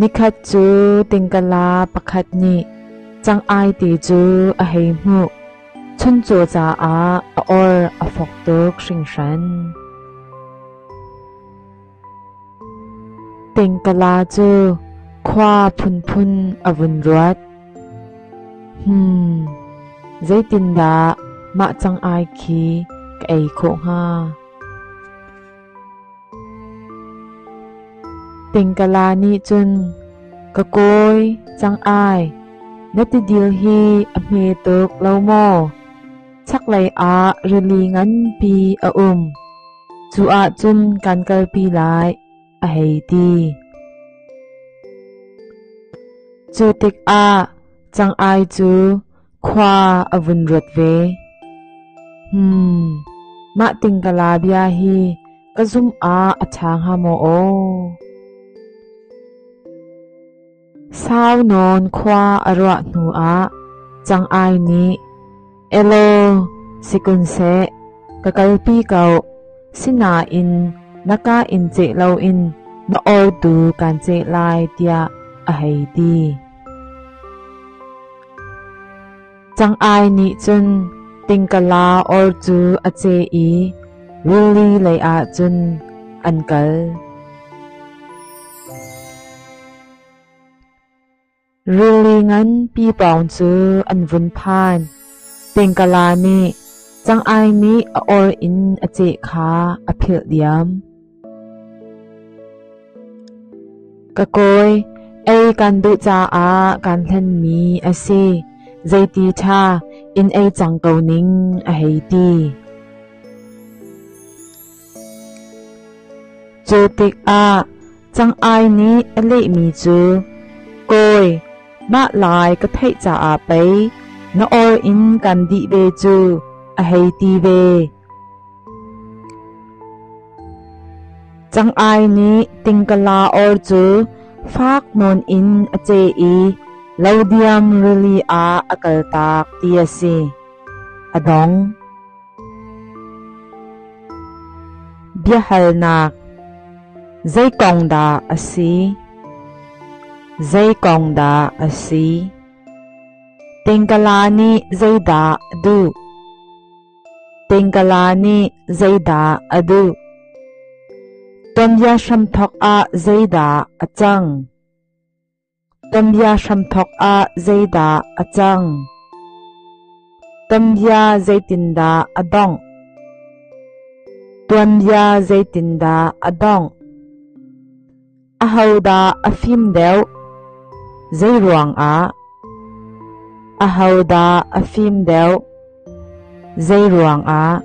Nikhat cu tingkala pakhat nih cang-ai te cu a hei hmuh. Chuncaw caah a or a fok tuk hringhran. Tingkala cu khua phunphun a vun ruat. Hmm, zeitindah mah cang-ai khi ka ei khawh hnga? Tingkala nih cun ka kawi cang ai na ti dil hi a hme tuk lo maw chaklei ah rili nganpi a um cu ah cun kan kalpi lai a hei ti cu tikah cang ai cu Khua a vun ruat ve. Hmm, mah tingkala bia hi ka zum ah a ṭha hnga maw aw? Sau nawn khua a ruah hnu ah cang ai nih Elo sikun se ka kalpi ko sinain naka in ce loin na ol tu kan ce lai tiah a hei ti. Cang ai nih cun tingkala or cu a ce i rili lei ah cun an kal. Rili ngan pi pawng cu an vun phan. Tingkala nih cang ai nih a or in a ceh kha a philh diam. Ka kawi, ei kan duh caah kan hlenmi a si. Zeiti ṭha in ei cang ko ning a hei ti. Cu tikah cang-ai nih a lehmi cu, Kawi, mah lai ka theih caah pei na or in kan dih ve cu a hei ti ve. Cang-ai nih tingkala or cu fak nawn in a ce i lo diam rili ah a kaltak ti a si. A dong. Biahalnak Zei kong dah a si? Zei kong dah a si? Tingkala nih zeidah duh? Pengkala nih zeidah a duh? Tonbia hramthok ah zeidah a cang? Tonbia hramthok ah zeidah a cang? Tonbia zeitindah a dongh? Tuanbia zeitindah a dongh? Ahodah a fim deuh? Zeiruangah? Ahodah a fim deuh? Zeiruangah?